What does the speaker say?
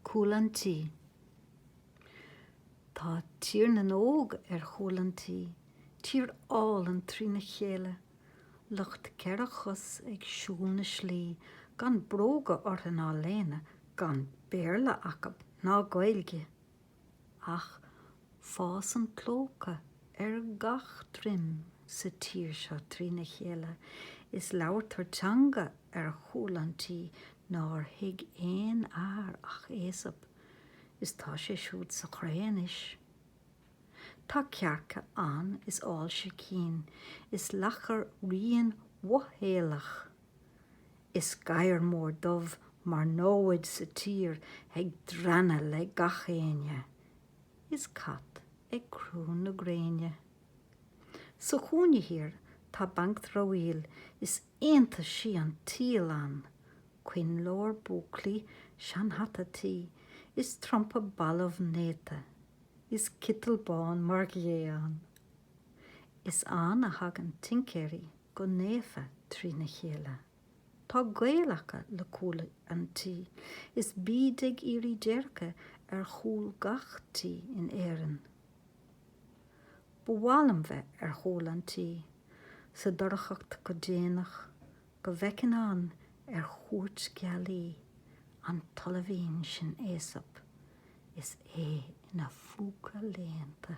Cúl an tí. Tá Tír na nÓg ar chúl an tí, tír álainn trína chéile, lucht ceithre chos ag siúl na slí gan bróga orthu ná léine, gan Béarla acu ná Gaeilge. ach fásann clóca ar gach droim sa tír seo trína chéile is labhartar teanga ar chúl an tí nár thuig aon fhear ach Aesop, is tá sé siúd sa chré anois. Tá cearca ann is ál sicín is lacha righin mhothaolach. Is gadhar mór dubh mar namhaid sa tír ag drannadh le gach éinne. Is cat ag crú na gréine. Sa chúinne thiar tá banc dramhaíl is iontaisí an tsaoil ann, coinnleoir búclaí, seanhata tuí, is trumpa balbh néata, is citeal bán mar ghé ann. Is ann a thagann tincéirí. go naofa trína chéile. Tá gaol acu le cúl an tí, is bíd ag iarraidh déirce ar chúl gach tí in Éirinn. Ba mhaith liom bheith ar chúl an tí, sa dorchacht go déanach, go bhfeicfinn ann ar chuairt gealaí an t-ollaimhín sin Aesop is é ina phúca léannta.